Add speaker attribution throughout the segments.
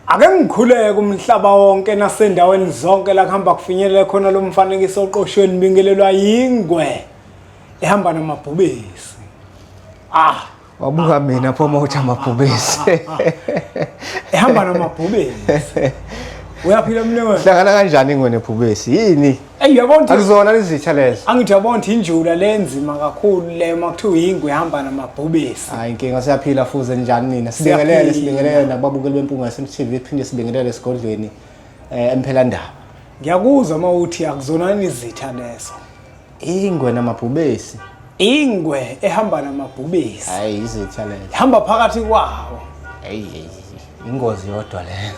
Speaker 1: Ake ngikhuleke umhlaba wonke nasendaweni zonke la kuhamba kufinyelele khona lo mfanekiso oqoshweni bingelelwa yingwe ehamba namabhubesi. Ah,
Speaker 2: wabuka mina phoma uthi amabhubesi.
Speaker 1: Ehamba namabhubesi. Uyaphila mnewethu. Hlangana kanjani ingwe
Speaker 2: nebhubesi? Yini? Ey yabona ukuthi akuzona
Speaker 1: izitha
Speaker 2: lezo. Angithi yabona ukuthi injula
Speaker 1: lenzima kakhulu le makuthiwa yingu ihamba namabhubesi. Hayi inkinga siyaphila
Speaker 2: fuze njani nina. Sibingelele sibingelele nababukeli bempunga yase TV phinde sibingelele esigodlweni eh emphela ndaba. Ngiyakuzwa
Speaker 1: uma uthi akuzona izitha lezo. Ingwe
Speaker 2: namabhubesi. Ingwe
Speaker 1: ehamba namabhubesi. Hayi izitha
Speaker 2: lezo. Hamba phakathi
Speaker 1: kwawo. Hey hey.
Speaker 2: ingozi yodwa leyo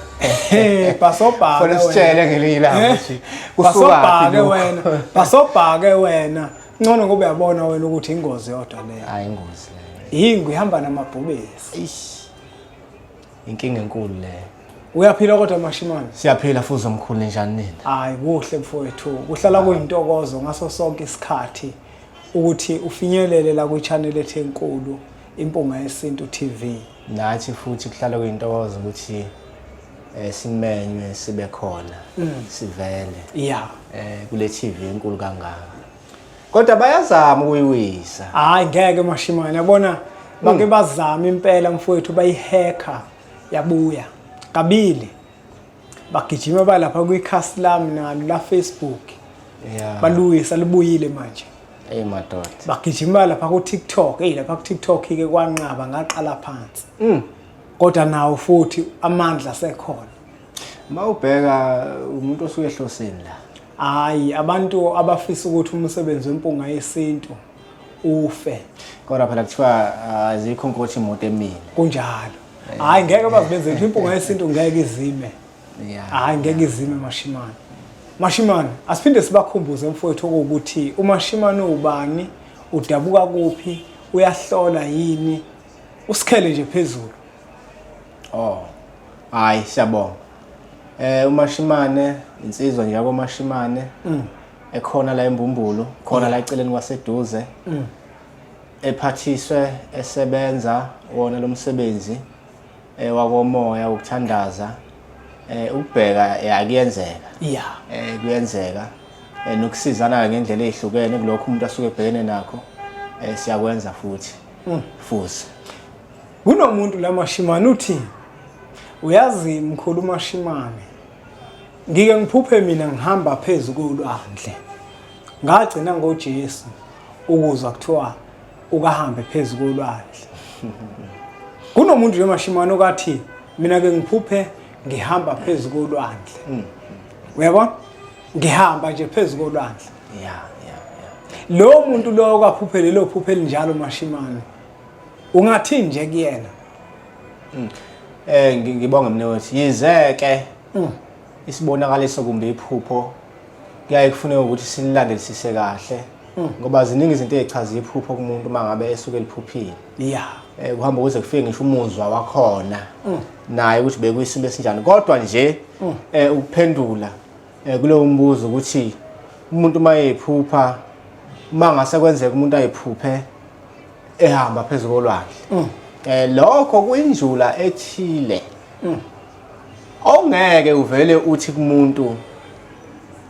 Speaker 2: Eh basobhaka Funa
Speaker 1: sitshele ngelinye
Speaker 2: ilanga ukuthi eh? kusukaphi
Speaker 1: wena basobhake wena ngcono ngoba uyabona wena ukuthi ingozi yodwa leyo hayi ingozi leyo
Speaker 2: yingu ihamba
Speaker 1: namabhubesi ish
Speaker 2: inkinga enkulu leyo uyaphila kodwa
Speaker 1: mashimane siyaphila futhi omkhulu
Speaker 2: njani nina hayi kuhle
Speaker 1: mfowethu kuhlala kuyintokozo ngaso sonke isikhathi ukuthi ufinyelele la kwi-channel ethi enkulu impunga yesintu tv nathi futhi
Speaker 2: kuhlala kuyintokozo ukuthi eh simenywe sibe khona mm. sivele yeah eh
Speaker 1: kule TV
Speaker 2: enkulu kangaka kodwa bayazama ukuyiwisa hayi ngeke
Speaker 1: mashimane yabona bake mm. bazama impela mfowethu bayihacker yabuya kabili bagijima balapha kwikhasi lami nalo la Facebook yeah.
Speaker 2: baluyisa libuyile
Speaker 1: manje Ey madoda.
Speaker 2: Bagijima lapha
Speaker 1: ku TikTok, ey lapha ku TikTok ke kwanqaba ngaqala phansi. Mm. Kodwa nawo futhi amandla sekhona. Mawubheka
Speaker 2: umuntu osuke ehlosini la. Hayi abantu
Speaker 1: abafisa ukuthi umsebenzi wempunga yesintu ufe kodwa phela
Speaker 2: kuthiwa ah, azikho nkothi imoto emile kunjalo
Speaker 1: hayi ngeke bazibenze nje impunga yesintu ngeke izime Yeah. hayi
Speaker 2: ngeke izime
Speaker 1: mashimane mashimane asiphinde sibakhumbuze mfowethu okuwukuthi umashimane ubani udabuka kuphi uyahlola yini usikhele nje phezulu oh
Speaker 2: hayi siyabonga eh umashimane insizwa nje yakomashimane ekhona la embumbulu khona la eceleni kwaseduze ephathiswe esebenza wona lo msebenzi eh, wakomoya wokuthandaza eh, ukubheka eh, akuyenzeka ya eh,
Speaker 1: kuyenzeka
Speaker 2: eh, nokusizana ngendlela ezihlukene kulokho umuntu asuke ebhekene nakho eh, siyakwenza futhi mm. futhi
Speaker 1: kunomuntu la mashimane uthi uyazi mkhulu mashimane ngike ngiphuphe mina ngihamba phezu kolwandle ngagcina ngoJesu ukuzwa kuthiwa ukahambe phezu kolwandle kunomuntu yemashimane okathi mina ke ngiphuphe ngihamba phezu kolwandle hmm. uyabona ngihamba nje phezu kolwandle
Speaker 2: yeah
Speaker 1: lo muntu lo kwaphuphe lelo phuphe elinjalo mashimane ungathini nje kuyena Mm. Eh
Speaker 2: ngibonga mina wethu. Yize ke mm. isibonakaliso kumbe iphupho kuyaye kufuneka ukuthi sililandelisise kahle mm. ngoba ziningi izinto ezichaza iphupho kumuntu mangabe esuke liphuphile. Yeah. Eh
Speaker 1: kuhamba kuze kufike
Speaker 2: ngisho umuzwa wakhona. Mm. Naye ukuthi bekuyisimo esinjani kodwa nje mm. eh ukuphendula Eh, kulowo mbuzo ukuthi umuntu uma eyiphupha uma ngase kwenzeka umuntu ayiphuphe ehamba phezu kolwandle um lokho kuyinjula ethile mm. ongeke uvele uthi kumuntu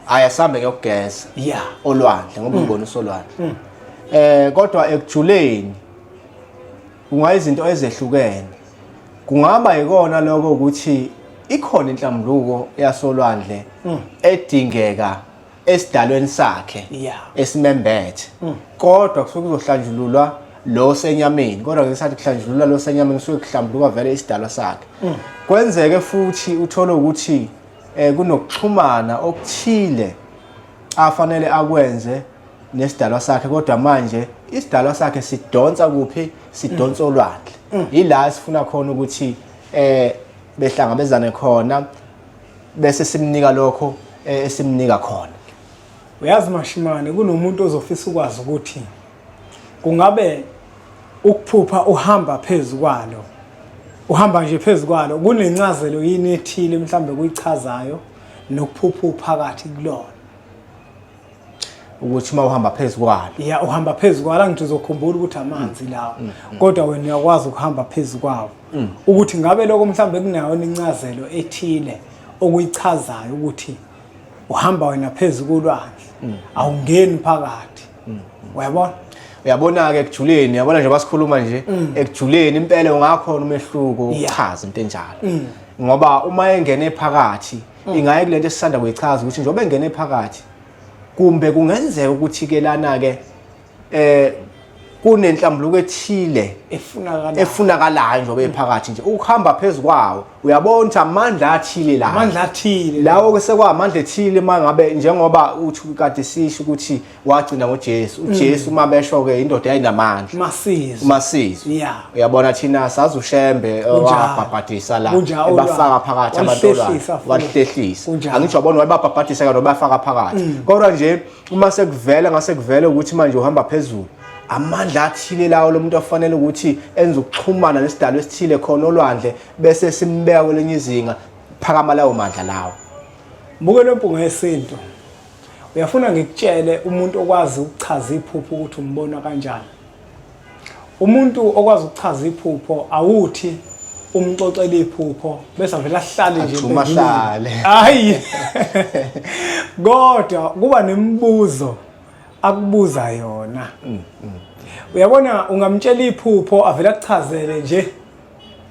Speaker 2: ayasambe ngiyokugeza ya olwandle
Speaker 1: ngoba mm. ubona
Speaker 2: usolwandle um kodwa ekujuleni Kungayizinto ezehlukene. Kungaba yikona lokho ukuthi ikhona inhlambuluko yasolwandle hmm. edingeka esidalweni sakhe esimembethe. Hmm. Kodwa kusuke kuzohlanjululwa lo senyameni kodwa ngesikhathi kuhlanjulula lo senyameni kusuke kuhlambuluka vele isidalwa sakhe mm. kwenzeke futhi uthole ukuthi eh, kunokuxhumana okuthile afanele akwenze nesidalwa sakhe kodwa manje isidalwa sakhe sidonsa kuphi sidonsa olwandle yila sifuna khona ukuthi eh behlangabezane khona bese simnika lokho eh, esimnika khona uyazi
Speaker 1: mashimane kunomuntu ozofisa ukwazi ukuthi kungabe ukuphupha uhamba phezu kwalo uhamba nje phezu kwalo kunencazelo yini ethile mhlawumbe kuyichazayo nokuphupha uphakathi kulona
Speaker 2: ukuthi uma uhamba phezu kwalo ya uhamba phezu kwalo
Speaker 1: angithi uzokhumbula ukuthi amanzi lawo mm, mm. kodwa wena uyakwazi ukuhamba phezu kwawo mm. ukuthi ngabe lokho mhlawumbe kunayo incazelo ethile okuyichazayo ukuthi uhamba wena phezu kolwandle awungeni phakathi uyabona uyabona-ke
Speaker 2: ekujuleni uyabona nje basikhuluma nje ekujuleni impela ungakhona umehluko uchaza into enjalo ngoba uma engene phakathi mm. ingaye kulento esisanda kuyichaza ukuthi njengoba engene phakathi kumbe kungenzeka ukuthi ke lana ke eh kunenhlambuluko ethile efunakalayo efunakalayo njengoba ephakathi nje ukuhamba phezulu kwawo uyabona ukuthi amandla athile la amandla athile lawo ke sekwamandla ethile mangabe njengoba uthi kade sisho ukuthi wagcina ngoJesu uJesu uma besho ke indoda yayinamandla masizwe umasizwe Yeah. uyabona
Speaker 1: thina sazi
Speaker 2: ushembe eh, Kunjalo. wabhabhadisa la Kunjalo, ebafaka phakathi abantwana walihlehlisa futhi. walihlehlisa Kunjalo. angisho yabona wayebabhabhadisa kanti wabafaka phakathi kodwa nje uma sekuvela ngase kuvele ukuthi manje uhamba phezulu amandla athile lawo lomuntu afanele ukuthi enze ukuxhumana nesidalo esithile khona olwandle bese simbeka kwelinye izinga phakama lawo mandla lawo Mbuke lo
Speaker 1: mpunga yesintu. uyafuna ngikutshele umuntu okwazi ukuchaza iphupho ukuthi umbona kanjani umuntu okwazi ukuchaza iphupho awuthi umxoxela iphupho bese avela ahlale nje umahlale
Speaker 2: hayi
Speaker 1: kodwa kuba nemibuzo akubuza yona mm, mm. uyabona ungamtshela iphupho avela kuchazele nje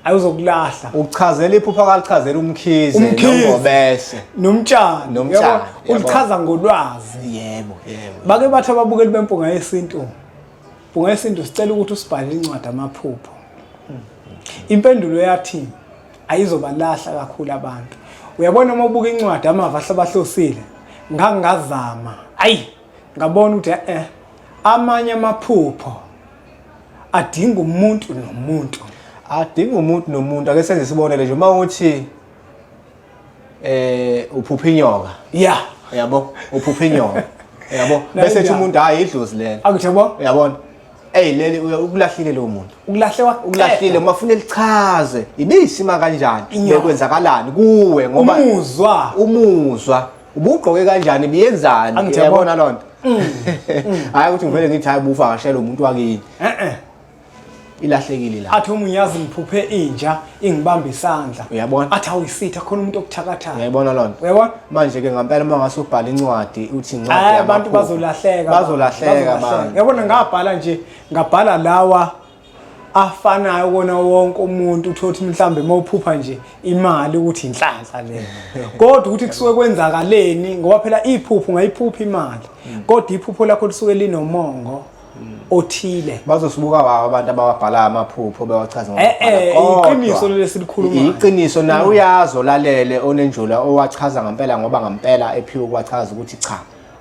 Speaker 1: ayozokulahla uchazela
Speaker 2: iphupha kalichazela umkhize nongobese nomtshana
Speaker 1: nomtshana ulichaza ngolwazi yebo yebo
Speaker 2: bake bathi
Speaker 1: ababukeli bempunga yesintu mpunga yesintu sicela ukuthi usibhalele incwadi amaphupho impendulo yathi ayizobalahla kakhulu abantu uyabona uma ubuka incwadi amava ahlabahlosile ngangazama ayi ngabona ukuthi eh amanye amaphupho adinga umuntu nomuntu adinga umuntu nomuntu ake senze isibonele nje uma
Speaker 2: uthi eh uphupha inyoka ya yabo uphupha inyoka yabo bese ethi umuntu hayi idlozi lelo akuthi yabo yabona Ey leli ukulahlile lo muntu. Ukulahle wa ukulahlile
Speaker 1: uma ufuna lichaze
Speaker 2: ibisima kanjani bekwenzakalani kuwe ngoba umuzwa umuzwa ubugqoke kanjani biyenzani Angithe yabo. yabona loo nto Mm. hhayi ukuthi ngivele ngithi hhayi bufakashela umuntu wakini e-e ilahlekile la athi umunyazi ngiphuphe
Speaker 1: inja ingibamba isandla Uyabona? athi awuyisitha
Speaker 2: khona
Speaker 1: umuntu okuthakathayo uyayibona loo nto uyabona
Speaker 2: manje-ke
Speaker 1: ngampela uma
Speaker 2: ngase ubhale incwadi uthi incwadi hayi abantu yamaphupho.
Speaker 1: bazolahleka bazolahleka abantu yabona ngabhala nje ngabhala lawa afanayo kona wonke umuntu uthothi mhlambe mawuphupha nje imali ukuthi inhlanhla le kodwa ukuthi kusuke kwenzakaleni ngoba phela iphupho ngayiphupha imali mm. kodwa iphupho lakho lisuke linomongo othile bazosibuka baba
Speaker 2: abantu abawabhala amaphupho bewachaza eh, eh, iqiniso
Speaker 1: lesikhuluma iqiniso nawe mm.
Speaker 2: uyazi olalele onenjula owachaza ngempela ngoba ngempela ephiwe kwachaza ukuthi cha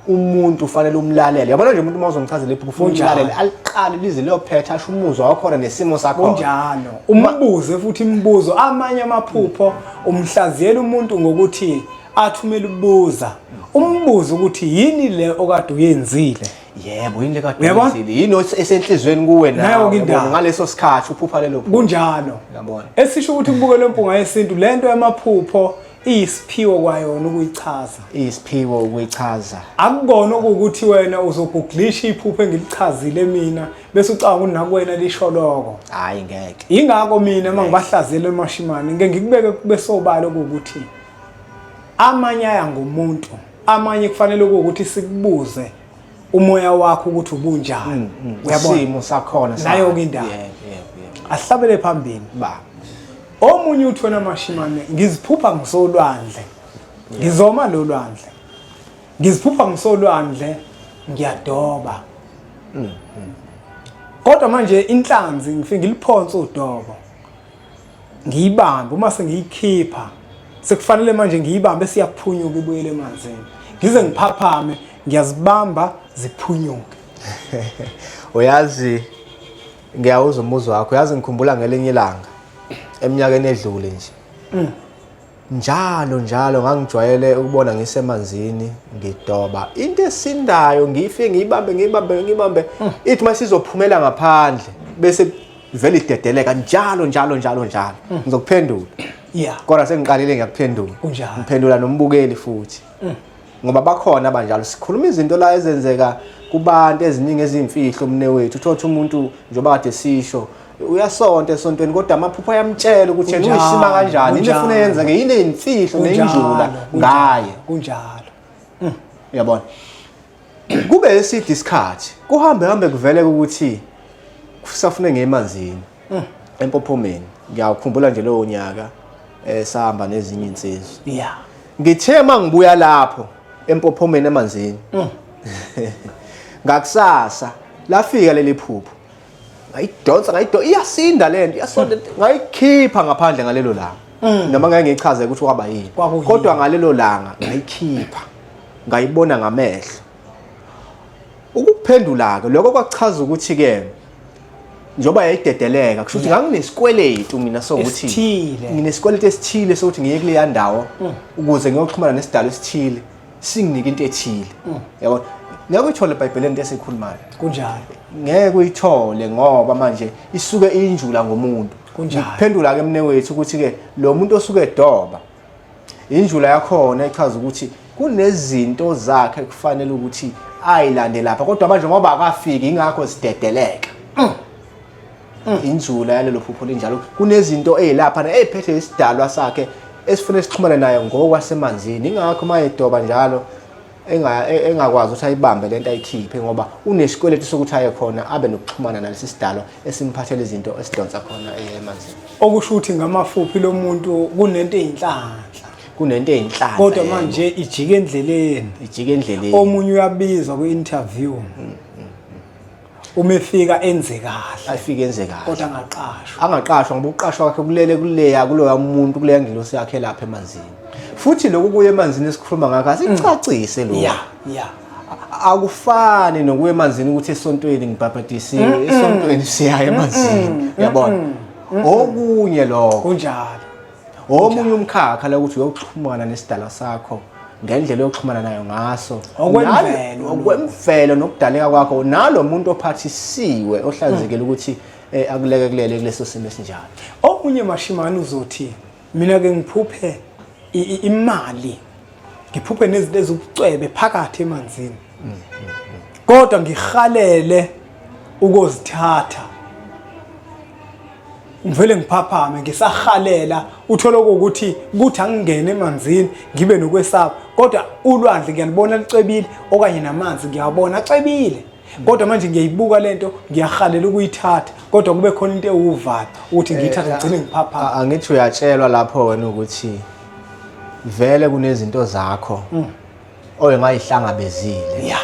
Speaker 2: umuntu ufanele umlalele yabona nje umuntu uma uzomchazela iphupho ufuna umlalele aliqale lize liyophetha asho umuzwa wakhona nesimo sakho kunjalo
Speaker 1: umbuze futhi imibuzo amanye amaphupho umhlaziyela umuntu ngokuthi athumele ubuza umbuze ukuthi yini le okade uyenzile yebo yini le kade
Speaker 2: uyenzile yini esenhlizweni kuwe nayo ngaleso sikhathi uphupha lelo kunjalo yabona
Speaker 1: esisho
Speaker 2: ukuthi kubukela
Speaker 1: impunga yesintu lento yamaphupho iyisiphiwo kwayona ukuyichaza iyisiphiwo
Speaker 2: ukuyichaza akukona
Speaker 1: ukuthi wena uzoguglisha iphupho engilichazile mina bese ucanga ukuthi nakuwena lisho lokho hayi ngeke
Speaker 2: ingakho mina uma
Speaker 1: ngibahlazile emashimane ngeke ngikubeke kube sobala ukuthi amanye aya ngomuntu amanye kufanele ukuthi sikubuze umoya wakho ukuthi ubunjani mm, mm. uyabona isimo
Speaker 2: sakhona nayo ke indaba
Speaker 1: ahlabele phambili ba omunye uthwena amashimane ngiziphupha ngisolwandle ngizoma lo lwandle ngiziphupha ngisolwandle ngiyadoba mm, kodwa manje inhlanzi ngifike ngiliphonse udobo ngiyibambe uma sengiyikhipha sekufanele manje ngiyibambe siyaphunyuka ibuyele emanzini ngize ngiphaphame ngiyazibamba ziphunyuke
Speaker 2: uyazi ngiyawuza umuzwa wakho uyazi ngikhumbula ngelinye ilanga eminyakeni edlule nje mm. Njalo njalo ngangijwayele ukubona ngisemanzini ngidoba into esindayo ngifike ngiyibambe ngiyibambe ngiyibambe hmm. ithi uma sizophumela ngaphandle bese vele idedeleka njalo njalo njalo njalo hmm. ngizokuphendula yeah kodwa sengiqalile ngiyakuphendula ngiphendula nombukeli futhi mm. ngoba bakhona abanjalo sikhuluma izinto la ezenzeka kubantu eziningi ezimfihlo umne wethu uthothi umuntu njengoba kade sisho uyasonta esontweni kodwa amaphupho ayamtshela ukuthi yena uyisima kanjani into efuna yenza ke yini imfihlo neyinjula ngaye kunjalo
Speaker 1: mm.
Speaker 2: uyabona kube eside isikhathi kuhambe hambe kuvele ukuthi kusafune ngemanzini Mm. Empophomeni. Ngiyakhumbula nje lowo nyaka eh sahamba nezinye insizwe. Yeah.
Speaker 1: Ngithe mangibuya
Speaker 2: lapho empophomeni emanzini. Mm. Ngakusasa lafika leli phupho. Ngayidonsa ngayido iyasinda lento iyasonda ngayikhipha ngaphandle ngalelo langa. Mm. Noma ngeke ngichaze ukuthi kwaba yini. Kodwa ngalelo langa ngayikhipha. Ngayibona ngamehlo. Ukuphendula-ke lokho kwachaza ukuthi-ke njengoba yayidedeleka kusho ukuthi nganginesikweletu mina sokuthi Esithile. nginesikweletu esithile sokuthi ngiye kuleya ndawo Mm. ukuze ngiyoxhumana nesidalo esithile singinike into ethile Mm. yabona ngeke uyithole ebhayibheleni into esiyikhulumayo kunjalo
Speaker 1: ngeke
Speaker 2: uyithole ngoba manje isuke injula ngomuntu Kunjalo. ngikuphendula-ke mne wethu ukuthi-ke lo muntu osuke edoba injula yakhona ichaza ukuthi kunezinto zakhe kufanele ukuthi ayilande lapha kodwa manje ngoba akafiki ingakho sidedeleka mm. mm. injula yalelo phupho linjalo kunezinto ezilapha na eziphethe isidalwa sakhe esifuna sixhumane naye ngokwasemanzini ingakho mayedoba njalo E, engakwazi ukuthi ayibambe lento ayikhiphe ngoba unesikweletu sokuthi aye khona abe nokuxhumana nalesi sidalo esimphathela izinto esidonsa khona eh, emanzini okusho ukuthi
Speaker 1: ngamafuphi lo muntu kunento eyinhlanhla kunento eyinhlanhla kodwa manje ijike endleleni ijike endleleni omunye uyabizwa kwi-interview mm, mm, mm. uma efika enze kahle afike enze kahle kodwa
Speaker 2: angaqashwa
Speaker 1: angaqashwa ngoba
Speaker 2: ukuqashwa kwakhe kulele kuleya kuloya muntu kuleya ngilosi yakhe lapha emanzini futhi lokhu kuye emanzini esikhuluma ngakho asicacise lokho yeah yeah
Speaker 1: akufani
Speaker 2: nokuya emanzini ukuthi esontweni ngibhabhadisiwe esontweni siyaye emanzini yabona okunye lokho kunjalo
Speaker 1: omunye
Speaker 2: umkhakha la ukuthi uyoxhumana nesidala sakho ngendlela yokuxhumana nayo ngaso okwemvelo okwemvelo nokudaleka kwakho nalo muntu ophathisiwe ohlanzekile hmm. ukuthi eh, akuleke kulele kuleso simo esinjalo omunye mashimani
Speaker 1: uzothi mina ke ngiphuphe imali ngiphuphe nezinto ezibucwebe phakathi emanzini kodwa ngihalele ukozithatha ngivele ngiphaphame ngisahalela uthole ukuthi kuthi angingene emanzini ngibe nokwesaba kodwa ulwandle ngiyalibona licwebile okanye namanzi ngiyawabona acwebile kodwa manje ngiyayibuka lento ngiyahalela ukuyithatha kodwa kube khona into ewuvalo ukuthi ngiyithathe eh, ngigcine ngiphaphama angithi uyatshelwa
Speaker 2: lapho wena ukuthi vele kunezinto zakho mm. oye ngayihlangabezile ya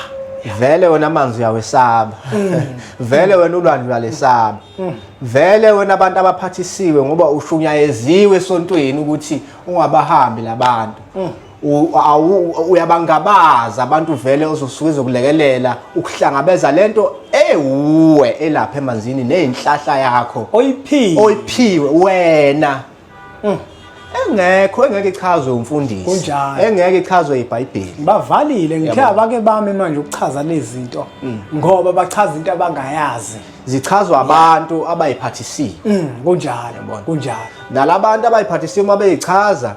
Speaker 2: vele
Speaker 1: wena
Speaker 2: amanzi uyawesaba mm. vele wena ulwandle uyalesaba mm. vele wena abantu abaphathisiwe ngoba ushunyayeziwe esontweni ukuthi ungabahambi labantu mm. uyabangabaza abantu vele ozosuke zokulekelela ukuhlangabeza lento ewuwe elapha emanzini nezinhlahla yakho oyiphiwe oyiphiwe wena Mm. engekho engeke ichazwe umfundisi Kunjalo. engeke ichazwe ibhayibheli bavalile ngithe
Speaker 1: Yabo. abake bami manje ukuchaza lezi zinto Mm. ngoba bachaza into abangayazi zichazwa
Speaker 2: abantu abayiphathisiwe Mm, kunjalo Yabona.
Speaker 1: kunjalo nalabantu
Speaker 2: abayiphathisiwe uma beyichaza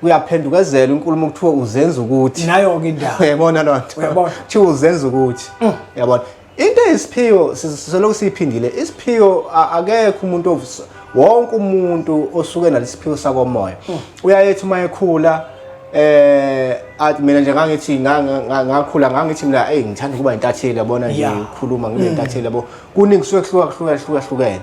Speaker 2: kuyaphendukezela inkulumo kuthiwa uzenza ukuthi nayo-ke indaba uyayibona
Speaker 1: loo nto Uyabona.
Speaker 2: Mm. kuthiwa uzenza ukuthi uyabona into eyisiphiwo sisolokhu siyiphindile isiphiwo akekho umuntu ovusa wonke umuntu osuke nalesiphiwo sakomoya hmm. uyayethi uma ekhula eh athi mina nje ngangithi ngakhula ngangithi mina hey ngithanda ukuba intatheli yabona nje ukhuluma ngibe hmm. intatheli yabo kuningi kusuke kuhluka kuhluka kuhluka hlukene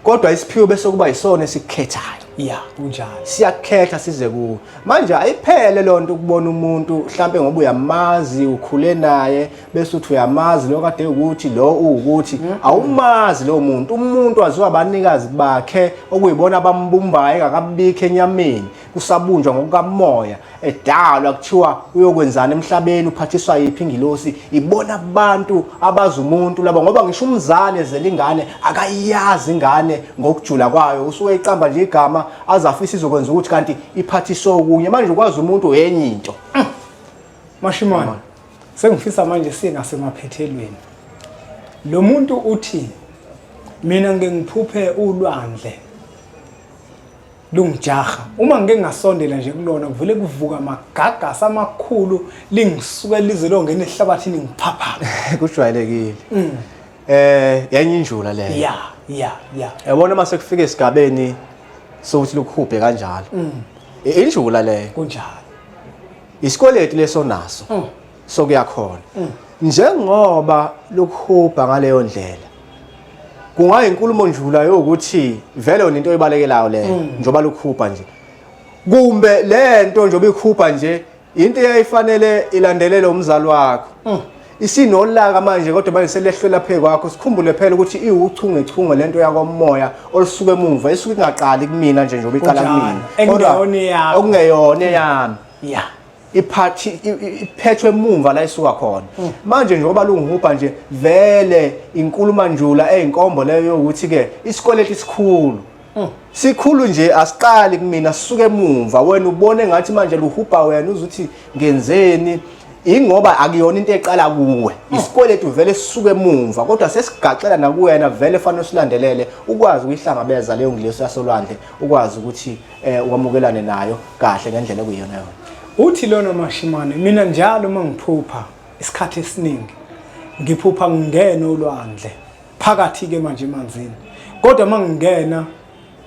Speaker 2: kodwa isiphiwo bese kuba yisona esikukhethayo ya kunjalo
Speaker 1: siyakhetha size
Speaker 2: kuwo manje ayiphele loo nto ukubona umuntu mhlampe ngoba uyamazi ukhule naye bese uthi uyamazi lo kade ukuthi lo uwukuthi mm-hmm. awumazi lowo muntu umuntu waziwa abanikazi bakhe okuyibona abambumbayo engakabikho enyameni kusabunjwa ngokukamoya edalwa kuthiwa uyokwenzana emhlabeni uphathiswa yiphi ingilosi ibona abantu abazi umuntu laba ngoba ngisho umzali ezela ingane akayazi ingane ngokujula kwayo usuke iqamba nje igama azafisa izokwenza ukuthi kanti iphathiswe okunye manje ukwazi umuntu yenye into mm.
Speaker 1: mashimane sengifisa manje singasemaphethelweni lo muntu uthi mina ngeke ngiphuphe ulwandle lungijaha uma ngike ngasondela nje kulona kuvele kuvuka amagagasi amakhulu lingisuke lize longena ehlabathini ngiphapha kujwayelekile
Speaker 2: mm. eh yenye injula leyo ya ya ya
Speaker 1: yabona uma
Speaker 2: sekufika esigabeni sokuthi lukhuphe kanjalo mm. injula leyo kunjalo isikweletu leso naso mm. sokuyakhona mm. njengoba lokuhubha ngaleyo ndlela kungayinkulumo njula yokuthi vele yona into ebalekelayo le mm. njoba lukhupha nje kumbe lento njoba ikhupha nje into eyayifanele ilandelele umzali wakho mm. isinolaka manje kodwa manje selehlwela phe kwakho sikhumbule phela ukuthi iwuchungechunge lento yakomoya olusuke emuva isuke ingaqali kumina nje njoba iqala kumina kodwa
Speaker 1: okungeyona
Speaker 2: yami yeah
Speaker 1: iphathi
Speaker 2: iphethwe emumva la isuka khona mm. manje njengoba lungihubha nje vele inkuluma njula eyinkombo leyo ukuthi ke isikweleti sikhulu mm. sikhulu nje asiqali kumina sisuke emumva wena ubone ngathi manje luhubha wena uzuthi ngenzeni ingoba akuyona into eqala kuwe mm. isikweletu vele sisuke emumva kodwa sesigaxela nakuwena vele fanele usilandelele ukwazi ukuyihlangabeza leyo ngilesi yasolwandle ukwazi ukuthi eh wamukelane nayo kahle ngendlela ekuyona yona uthi lona
Speaker 1: mashimane mina njalo uma ngiphupha isikhathi esiningi ngiphupha ngingena olwandle phakathi ke manje emanzini kodwa uma ngingena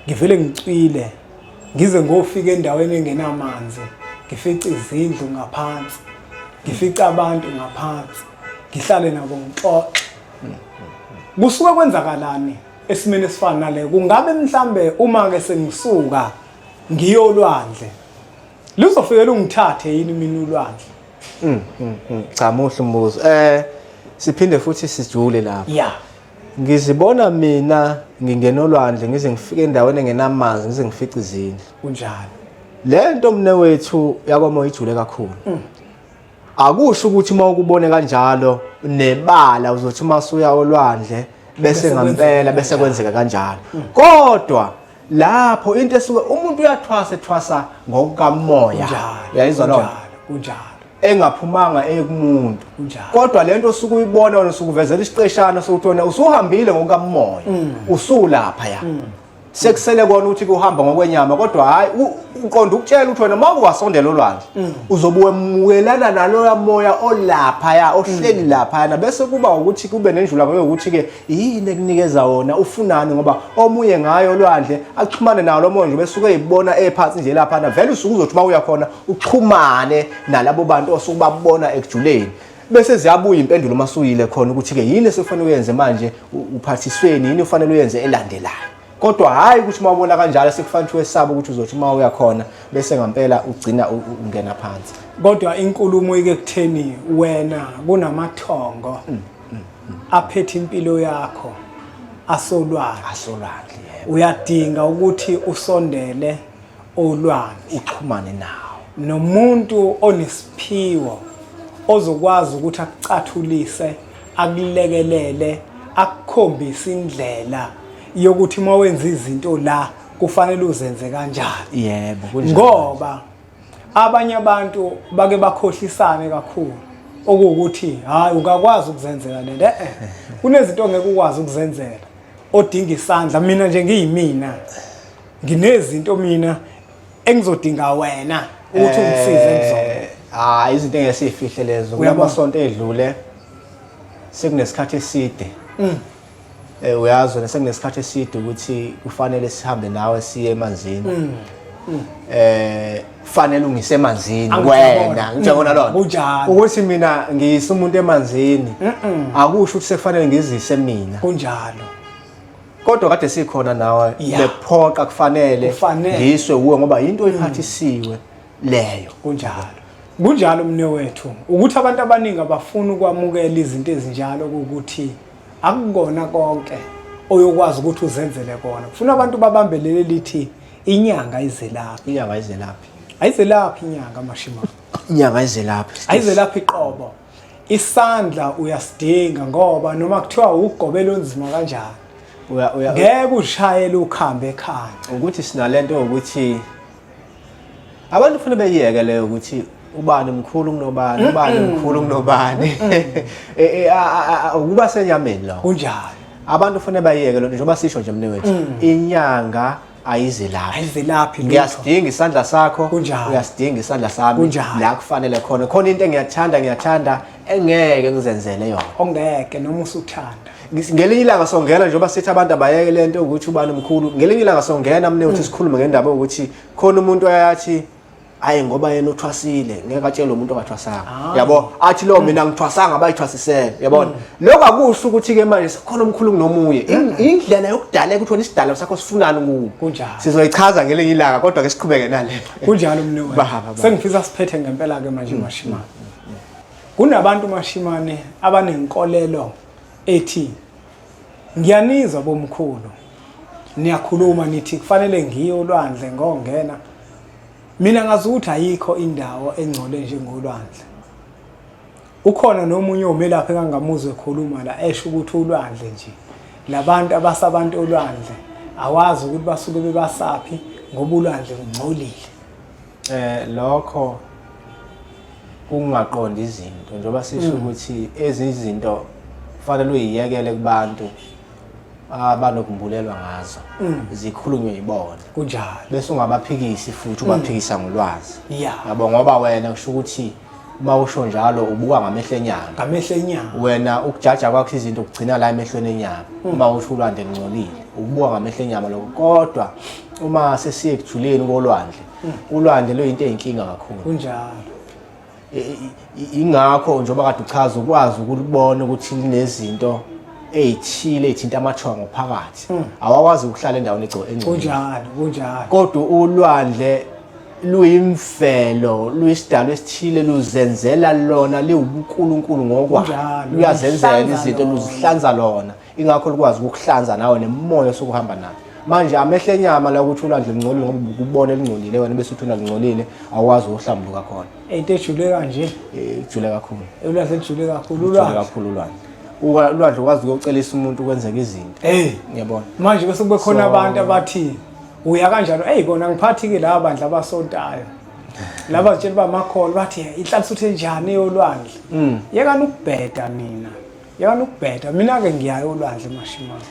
Speaker 1: ngivele ngicwile ngize ngofika endaweni engenamanzi ngifice izindlu ngaphansi ngifice abantu ngaphansi ngihlale nabo ngixoxe kusuke kwenzakalani esimeni esifana nale kungabe mhlambe uma ke sengisuka ngiyolwandle luzofike lungithathe yini mina ulwandle mm, mm,
Speaker 2: mm. cha muhle umbuzo eh siphinde futhi sijule lapho yeah
Speaker 1: ngizibona
Speaker 2: mina ngingena olwandle ngize ngifike endaweni engenamanzi ngize ngifice izindlu kunjalo
Speaker 1: le nto
Speaker 2: mnewethu yakwamoya ijule kakhulu mm. akusho ukuthi uma ukubone kanjalo nebala uzothi uma suya olwandle bese ngampela bese kwenzeka kanjalo kodwa lapho into esuke umuntu uyathwasa ethwasa ngokukamoya yayizwa lona kunjalo
Speaker 1: engaphumanga
Speaker 2: ekumuntu kodwa lento osuke uyibona wena usukuvezela isiqeshana sokuthi wena usuhambile ngokukamoya mm. usulapha ya mm. sekusele kona ukuthi kuhamba ngokwenyama kodwa hayi uqonda ukutshela ukuthi wena uma uwasondela olwandle mm. uzobuwemukelana naloya moya olapha ya ohleli mm. lapha yana bese kuba ukuthi kube nenjula ngoyo ukuthi ke yini ekunikeza wona ufunani ngoba omunye ngayo olwandle axhumane nawo lomoya nje bese ukuyibona ephansi nje lapha na vele usukuzothi uma uya khona uxhumane nalabo bantu osukubabona ekujuleni bese ziyabuya impendulo uma suyile khona ukuthi-ke yini esufanele uyenze manje uphathisweni yini ufanele uyenze elandelayo kodwa hhayi ukuthi uma ubona kanjalo sekufanele ukuthi wesabe ukuthi uzothi uma uya khona bese ngampela ugcina ungena phansi kodwa inkulumo
Speaker 1: ike kutheni wena kunamathongo mm, mm, mm. aphethe impilo yakho asolwandle asolwandle uyadinga ukuthi usondele olwandle uxhumane nawo
Speaker 2: nomuntu
Speaker 1: onesiphiwo ozokwazi ukuthi akucathulise akulekelele akukhombise indlela yokuthi uma wenza izinto la kufanele uzenze kanjani yebo
Speaker 2: ngoba
Speaker 1: abanye abantu bake bakhohlisane kakhulu okuwukuthi hayi ungakwazi ukuzenzela lento eh, eh kunezinto ongeke ukwazi ukuzenzela odinga isandla mina nje ngiyimina nginezinto mina engizodinga wena ukuthi ungisize eh, ngizona ah izinto engesifihle
Speaker 2: lezo kuyamasonto edlule sekunesikhathi eside mm. eh uyazi wena sekunesikhathi eside ukuthi kufanele sihambe nawe siye emanzini mm. Mm. eh fanele ungise emanzini wena ngijabona lona kunjalo ukuthi mina ngiyisa umuntu emanzini akusho ukuthi sekufanele ngizise mina kunjalo
Speaker 1: kodwa
Speaker 2: kade sikhona nawe Yeah. bephoqa kufanele Kufanele. Mm. ngiswe kuwe ngoba yinto iphathisiwe leyo kunjalo
Speaker 1: kunjalo mne wethu ukuthi abantu abaningi abafuni ukwamukela izinto ezinjalo ukuthi akukona konke oyokwazi ukuthi uzenzele kona kufuna abantu babambelele lithi inyanga izelaphi inyanga izelaphi ayizelaphi inyanga mashima inyanga izelaphi
Speaker 2: ayizelaphi
Speaker 1: iqobo isandla uyasidinga ngoba noma kuthiwa ugobela onzima kanjani ngeke ushayele ukhambe ekhaya ukuthi sinalento
Speaker 2: ukuthi abantu ufuna beyiyeke leyo ukuthi ubani mkhulu kunobani ubani mkhulu kunobani e, e, ukuba senyameni lo kunjalo abantu ufuna bayiyeke lonto njengoba
Speaker 1: sisho
Speaker 2: nje mnewethu mm. inyanga ayizelaphi
Speaker 1: ayizelaphi ngiyasidinga isandla
Speaker 2: sakho uyasidinga
Speaker 1: isandla
Speaker 2: sami la kufanele
Speaker 1: khona
Speaker 2: khona into engiyathanda ngiyathanda engeke ngizenzele yona ongeke noma
Speaker 1: usuthanda ngelinye ilanga
Speaker 2: songena njengoba sithi abantu abayeke lento ukuthi ubani mkhulu ngelinye ilanga songena mne uthi mm. sikhulume ngendaba ukuthi khona umuntu ayathi hayi ngoba yena uthwasile ngeke atshele umuntu ongathwasanga ah. yabo athi lo mina ngithwasanga abayithwasisele yabona hmm. lokho akusho ukuthi ke manje sikhona umkhulu kunomunye hmm. indlela yokudaleka ukuthi wena isidalo sakho sifunani kuwo kunjalo sizoyichaza
Speaker 1: ngelinye
Speaker 2: ilanga kodwa ke siqhubeke nale kunjalo mnewethu Baba,
Speaker 1: sengifisa siphethe ngempela ke manje hmm. mashimane kunabantu mashimane abanenkolelo ethi Ngiyanizwa bomkhulu. Niyakhuluma nithi kufanele ngiye olwandle ngongena. Mina ngazi ukuthi ayikho indawo engcole njengolwandle. Ukhona nomunye omelaphi engangamuzwe ekhuluma la esho ukuthi ulwandle nje. Labantu abasabantu olwandle awazi ukuthi basuke bebasaphi ngoba ulwandle ungcolile. Eh lokho
Speaker 2: kungaqonda izinto njengoba sisho mm. ukuthi ezinye izinto kufanele uyiyekele kubantu abanokumbulelwa ngazo mm. zikhulunywe yibona kunjalo bese
Speaker 1: ungabaphikisi
Speaker 2: futhi mm. ubaphikisa ngolwazi yabo ngoba
Speaker 1: wena kusho
Speaker 2: ukuthi uma usho njalo ubuka ngamehlo enyanga ngamehlo enyanga wena ukujaja kwakho izinto ugcina la emehlweni enyanga hmm. uma usho ulwandle lungcolile ubuka ngamehlo enyama lokho kodwa uma sesiye ekujuleni kolwandle hmm. ulwandle luyinto eyinkinga kakhulu kunjalo ingakho njengoba kade uchaza ukwazi ukubona ukuthi linezinto eyithile ethinta amathongo phakathi hmm. awakwazi ukuhlala endaweni egcwele kunjalo
Speaker 1: kunjalo kodwa
Speaker 2: ulwandle luyimvelo luyisidalwa esithile luzenzela lona liwubunkulunkulu ngokwalo luyazenzela izinto luzihlanza lona ingakho likwazi ukukuhlanza nawe nemoya sokuhamba nayo manje amehlo enyama la ukuthi ulandle lingcolile ngoba ukubona elingcolile wena bese uthi unalingcolile awazi ukuhlambuluka khona into ejule kanje
Speaker 1: eh, ejule kakhulu
Speaker 2: ulwandle ejule kakhulu
Speaker 1: ulwandle kakhulu ulwandle
Speaker 2: ulwandle ukwazi ukuyocelisa umuntu kwenzeka izinto eh ngiyabona manje bese kube khona
Speaker 1: abantu abathini uya kanjalo eyi kona ngiphathi-ke laba bandla abasontayo laba zitshela uba makholo bathi inhlalisa uthe njani eyolwandle mm. yekani ukubheda nina yekani ukubheda mina-ke ngiyayo olwandle mashimane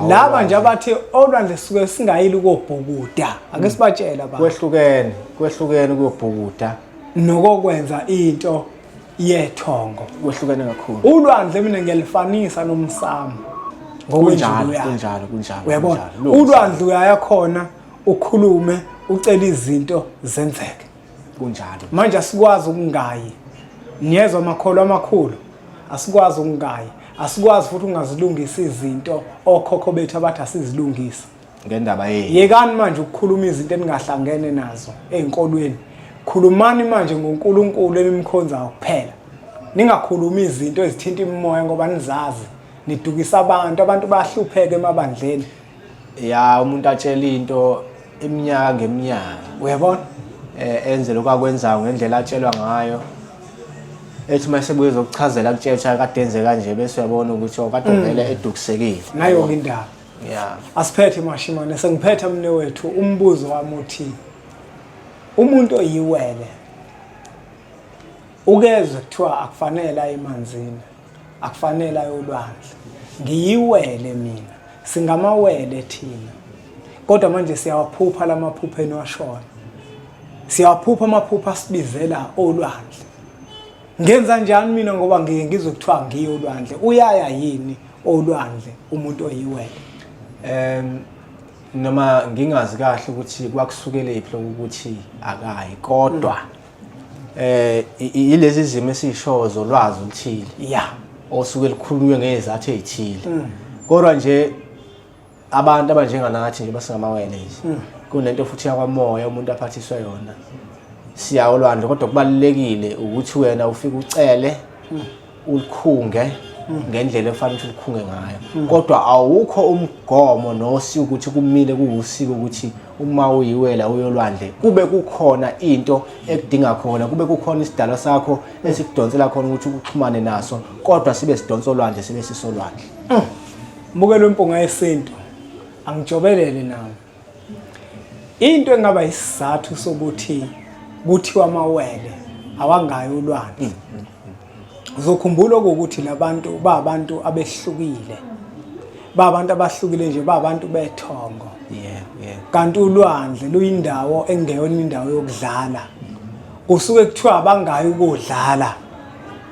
Speaker 1: laba nje abathi olwandle suke singayile ukobhukuda ake mm. sibatshela ba kwehlukene kwehlukene
Speaker 2: ukobhukuda nokokwenza
Speaker 1: into yethongo kwehlukene kakhulu
Speaker 2: ulwandle mina
Speaker 1: ngiyalifanisa nomsamo ngokunjalo
Speaker 2: kunjalo kunjalo
Speaker 1: uyabona ulwandle uyaya khona ukhulume ucela izinto zenzeke kunjalo
Speaker 2: manje asikwazi
Speaker 1: ukungayi niyezwa amakholwa amakhulu asikwazi ukungayi asikwazi futhi ungazilungisa izinto okhokho bethu abathi asizilungise ngendaba yenu
Speaker 2: yekani manje
Speaker 1: ukukhuluma izinto eningahlangene nazo ezinkolweni khulumani manje ngoNkulunkulu enimkhonzayo kuphela ningakhulumi izinto ezithinta imimoya ngoba nizazi nidukisa abantu abantu bahlupheke emabandleni ya
Speaker 2: umuntu atshela into iminyaka ngeminyaka uyabona
Speaker 1: eh enze
Speaker 2: lokho akwenzayo ngendlela atshelwa ngayo ethi mase buye zokuchazela kutshelwa kade enze kanje bese uyabona ukuthi okade oh, vele mm. edukisekile nayo indaba
Speaker 1: yeah asiphethe mashimane sengiphetha mne wethu umbuzo wami uthi umuntu oyiwele ukezwe kuthiwa akufanele aye emanzini akufanele ayolwandle ngiyiwele mina singamawele thina kodwa manje siyawaphupha lamaphupha eniwashona siyawaphupha amaphupha asibizela olwandle ngenza njani mina ngoba ngiye ngizwe kuthiwa ngiye olwandle uyaya yini olwandle umuntu oyiwele um
Speaker 2: noma ngingazi kahle ukuthi kwakusukelephi lokuthi akayi kodwa eh ilezi zimo esishoyo zolwazi oluthile yeah osuke likhulunywe ngezathu ezithile mm. kodwa nje abantu abanjenganathi nje basingamawele nje hmm. kunento futhi yakwamoya umuntu aphathiswe yona siya olwandle kodwa kubalulekile ukuthi wena ufike ucele hmm. ulikhunge hmm. ngendlela efanele ukuthi ulikhunge ngayo kodwa awukho umgomo nosi ukuthi kumile kuwusiko ukuthi uma uyiwela uyolwandle kube kukhona into ekudinga khona kube kukhona isidalwa sakho esikudonsela khona ukuthi uxhumane naso kodwa sibe sidonsa olwandle sibe sisolwandle
Speaker 1: Mukelo impunga yesintu angijobelele nami. Into engaba isizathu sokuthi kuthiwa amawele awangayo ulwandle. Uzokhumbula ukuthi labantu ba abantu abehlukile. Ba abantu abahlukile nje ba abantu bethongo. Yeah, yeah.
Speaker 2: Kanti ulwandle
Speaker 1: luyindawo engeyona indawo yokudlala. Kusuke kuthiwa abangayo ukudlala.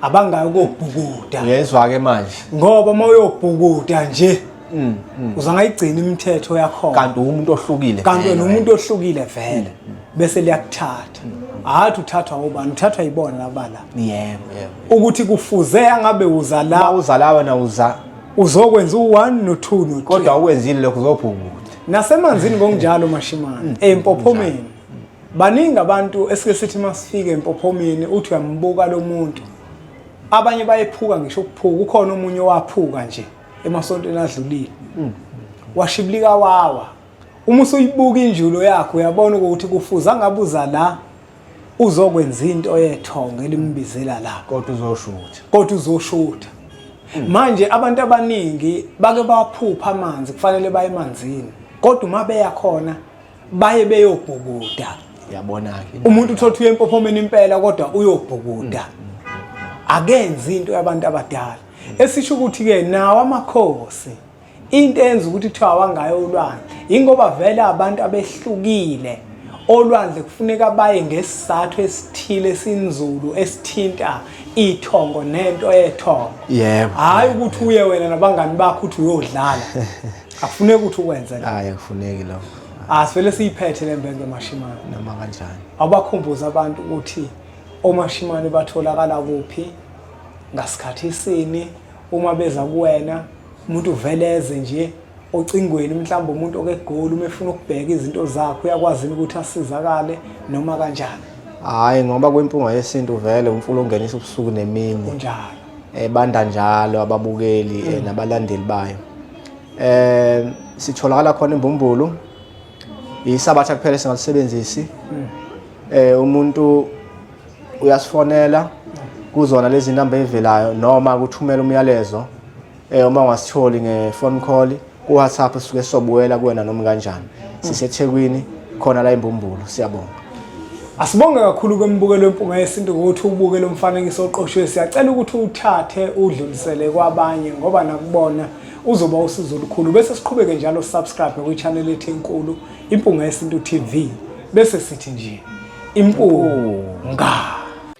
Speaker 1: abangayo kobhukuda ngezwa ke manje
Speaker 2: ngoba uma
Speaker 1: uyobhukuda nje mm, mm. uza ngayigcina imithetho yakho kanti umuntu ohlukile
Speaker 2: kanti wena umuntu ohlukile
Speaker 1: vele mm, bese liyakuthatha hathi uthathwa ubani uthathwa yibona labala yebo yebo
Speaker 2: ukuthi
Speaker 1: kufuze angabe uza la uza la wena uza
Speaker 2: uzokwenza
Speaker 1: u1 no2 no3 kodwa ukwenzile lokho
Speaker 2: uzobhukuda nasemanzini
Speaker 1: ngokunjalo mashimane empophomeni Baningi abantu esike sithi masifike empophomeni uthi uyambuka lo muntu. Abanye bayephuka ngisho ukuphuka ukhona omunye owaphuka nje emasontweni adlulile. Hmm. Washibilika wawa. Uma usuyibuka injulo yakho uyabona ukuthi kufuza ngabuza la uzokwenza into yethongo elimbizela la. Kodwa uzoshutha. Kodwa uzoshutha. Hmm. Manje abantu abaningi bake baphupha amanzi kufanele baye emanzini. Kodwa uma beya khona baye beyobhukuda yabona-ke
Speaker 2: umuntu uthola uye empophomeni
Speaker 1: impela kodwa uyobhukuda mm, mm, mm, akenzi into yabantu abadala esisho ukuthi-ke nawo amakhosi into enza ukuthi kuthiwa awangayo ulwandle yingoba vele abantu abehlukile olwandle kufuneka baye ngesizathu esithile esinzulu esithinta ithongo nento ethongo yebo hayi
Speaker 2: ukuthi uye
Speaker 1: wena nabangani bakho uthi uyodlala akufuneki ukuthi ukwenze la hayi akufuneki lokho
Speaker 2: asivele siyiphethe
Speaker 1: le mbenge mashimane noma kanjani
Speaker 2: abakhumbuza abantu
Speaker 1: ukuthi omashimane batholakala kuphi ngasikhathi sini uma beza kuwena umuntu uveleze nje ocingweni mhlawumbe umuntu okegoli uma efuna ukubheka izinto zakhe uyakwazi ukuthi asizakale noma kanjani hayi ngoba
Speaker 2: kwimpunga yesintu vele umfula ungenisa ubusuku nemini kunjalo
Speaker 1: ebanda njalo
Speaker 2: ababukeli eh, nabalandeli bayo eh sitholakala khona imbumbulu yisabatha kuphela singalisebenzisi hmm. eh umuntu uyasifonela kuzona lezi namba evelayo noma kuthumela umyalezo eh uma ungasitholi ngefone call ku WhatsApp suke sobuwela kuwena noma kanjani hmm. sisethekwini khona la imbumbulu siyabonga Asibonge
Speaker 1: kakhulu kwemibukelo yempunga yesintu ngokuthi ubuke lo mfanekiso oqoshiwe. Siyacela ukuthi uthathe udlulisele kwabanye ngoba nakubona uzoba usizo olukhulu. Bese siqhubeke njalo subscribe kwi-channel ethi enkulu Impunga Yesintu TV. Bese sithi nje impunga.